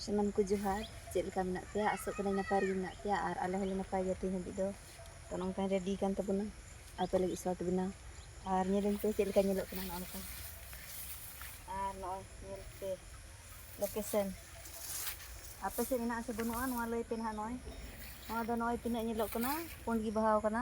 ᱥᱟᱱᱟᱢ ᱠᱚ ᱡᱚᱦᱟᱨ ᱪᱮᱫ ᱞᱮᱠᱟ ᱢᱮᱱᱟᱜ ᱯᱮᱭᱟ ᱟᱥᱚᱜ ᱠᱟᱹᱱᱟᱹᱧ ᱱᱟᱯᱟᱭ ᱨᱮᱜᱮ ᱢᱮᱱᱟᱜ ᱯᱮᱭᱟ ᱟᱨ ᱟᱞᱮ ᱦᱚᱸᱞᱮ ᱱᱟᱯᱟᱭ ᱜᱮᱭᱟ ᱛᱮᱦᱮᱧ ᱦᱟᱹᱵᱤᱡ ᱫᱚ ᱛᱚ ᱱᱚᱝᱠᱟᱧ ᱨᱮᱰᱤ ᱟᱠᱟᱱ ᱛᱟᱵᱚᱱᱟ ᱟᱯᱮ ᱞᱟᱹᱜᱤᱫ ᱥᱚᱨᱴ ᱵᱮᱱᱟᱣ ᱟᱨ ᱧᱮᱞᱟᱹᱧ ᱯᱮ ᱪᱮᱫ ᱞᱮᱠᱟ ᱧᱮᱞᱚᱜ ᱠᱟᱱᱟ ᱱᱚᱜᱼᱚ ᱱᱚᱝᱠᱟ ᱟᱨ ᱱᱚᱜᱼᱚᱭ ᱧᱮᱞ ᱯᱮ ᱞᱳᱠᱮᱥᱚᱱ ᱟᱯᱮ ᱥᱮᱫ ᱢᱮᱱᱟᱜ ᱟᱥᱮ ᱵᱟᱹᱱᱩᱜᱼᱟ ᱱᱚᱣᱟ ᱞᱟᱹᱭ ᱯᱮ ᱱᱟᱦᱟᱜ ᱱᱚᱜᱼᱚᱭ ᱱᱚᱣᱟ ᱫᱚ ᱱᱚᱜᱼᱚᱭ ᱛᱤᱱᱟᱹᱜ ᱧᱮᱞᱚᱜ ᱠᱟᱱᱟ ᱯᱩᱸᱰ ᱜᱮ ᱵᱟᱦᱟᱣ ᱠᱟᱱᱟ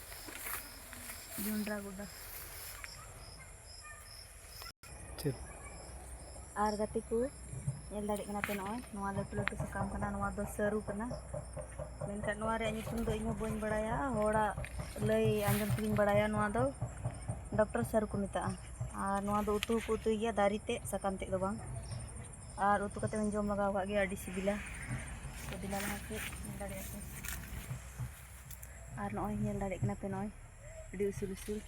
ᱡᱚᱱᱰᱨᱟ ᱜᱚᱰᱟ ᱪᱮᱫ ᱟᱨ ᱜᱟᱛᱮ ᱠᱚ ᱧᱮᱞ ᱫᱟᱲᱮᱭᱟᱜ ᱠᱟᱱᱟ ᱯᱮ ᱱᱚᱜᱼᱚᱭ ᱱᱚᱣᱟ ᱞᱟᱹᱴᱩ ᱞᱟᱹᱴᱩ ᱥᱟᱠᱟᱢ ᱠᱟᱱᱟ ᱱᱚᱣᱟ ᱫᱚ ᱥᱟᱹᱨᱩ ᱠᱟᱱᱟ ᱢᱮᱱᱠᱷᱟᱱ ᱱᱚᱣᱟ ᱨᱮᱭᱟᱜ ᱧᱩᱛᱩᱢ ᱫᱚ ᱤᱧᱦᱚᱸ ᱵᱟᱹᱧ ᱵᱟᱲᱟᱭᱟ ᱦᱚᱲᱟᱜ ᱞᱟᱹᱭ ᱟᱸᱡᱚᱢ ᱛᱮᱜᱮᱧ ᱵᱟᱲᱟᱭᱟ ᱱᱚᱣᱟ ᱫᱚ ᱰᱚᱠᱴᱚᱨ ᱥᱟᱹᱨᱩ ᱠᱚ ᱢᱮᱛᱟᱜᱼᱟ ᱟᱨ ᱱᱚᱣᱟ ᱫᱚ ᱩᱛᱩ ᱦᱚᱸᱠᱚ ᱩᱛᱩᱭ ᱜᱮᱭᱟ ᱫᱟᱨᱮ ᱛᱮᱫ ᱥᱟᱠᱟᱢ ᱛᱮᱫ ᱫᱚ ᱵᱟᱝ ᱟᱨ ᱩᱛᱩ ᱠᱟᱛᱮ ᱦᱚᱸᱧ ᱡᱚᱢ ᱞᱟᱜᱟᱣ ᱠᱟᱜ ᱜᱮᱭᱟ ᱟᱹᱰᱤ ᱥᱤᱵᱤᱞᱟ ᱥᱤᱵᱤᱞᱟ ᱞᱟᱦᱟ ᱠᱷᱚᱡ ᱧᱮᱞ ᱫᱟᱲᱮᱭᱟᱜᱼᱟ ᱯᱮ ᱟᱨ ᱱᱚᱜᱼᱚᱭ ᱧᱮᱞ ᱫᱟᱲᱮᱭᱟᱜ ᱠᱟᱱᱟ ᱯᱮ ᱱᱚᱜᱼᱚᱭ ᱟᱹᱰᱤ ᱩᱥᱩᱞ ᱩᱥᱩᱞ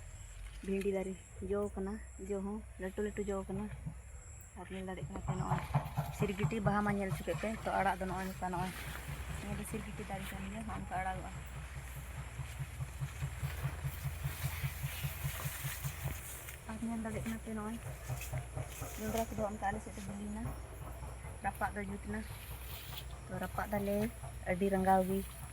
ᱵᱷᱤᱱᱰᱤ ᱫᱟᱨᱮ ᱡᱚ ᱠᱟᱱᱟ ᱡᱚ ᱦᱚᱸ ᱞᱟᱹᱴᱩ ᱞᱟᱹᱴᱩ ᱡᱚ ᱠᱟᱱᱟ ᱟᱨ ᱧᱮᱞ ᱫᱟᱲᱮᱭᱟᱜ ᱠᱟᱱᱟ ᱯᱮ ᱱᱚᱜᱼᱚᱭ ᱥᱤᱨᱜᱤᱴᱤ ᱵᱟᱦᱟ ᱢᱟ ᱧᱮᱞ ᱦᱚᱪᱚ ᱠᱮᱫ ᱯᱮ ᱛᱚ ᱟᱲᱟᱜ ᱫᱚ ᱱᱚᱜᱼᱚᱭ ᱱᱚᱝᱠᱟ ᱱᱚᱜᱼᱚᱭ ᱱᱚᱣᱟ ᱫᱚ ᱥᱤᱨᱜᱤᱴᱤ ᱫᱟᱨᱮ ᱠᱟᱱ ᱜᱮᱭᱟ ᱱᱚᱜᱼᱚ ᱱᱚᱝᱠᱟ ᱟᱲᱟᱜᱚᱜᱼᱟ ᱟᱨ ᱧᱮᱞ ᱫᱟᱲᱮᱭᱟᱜ ᱠᱟᱱᱟ ᱯᱮ ᱱᱚᱜᱼᱚᱭ ᱡᱚᱸᱰᱨᱟ ᱠᱚᱫᱚ ᱚᱱᱠᱟ ᱟᱞᱮ ᱥᱮᱫ ᱫᱚ ᱵᱤᱞᱤᱭᱮᱱᱟ ᱨᱟᱯᱟᱜ ᱫᱚ ᱡᱩᱛ ᱮᱱᱟ ᱛᱚ ᱨᱟᱯᱟᱜ ᱫᱟᱞᱮ ᱟᱹᱰᱤ ᱨᱟᱸᱜᱟᱣ ᱜᱮ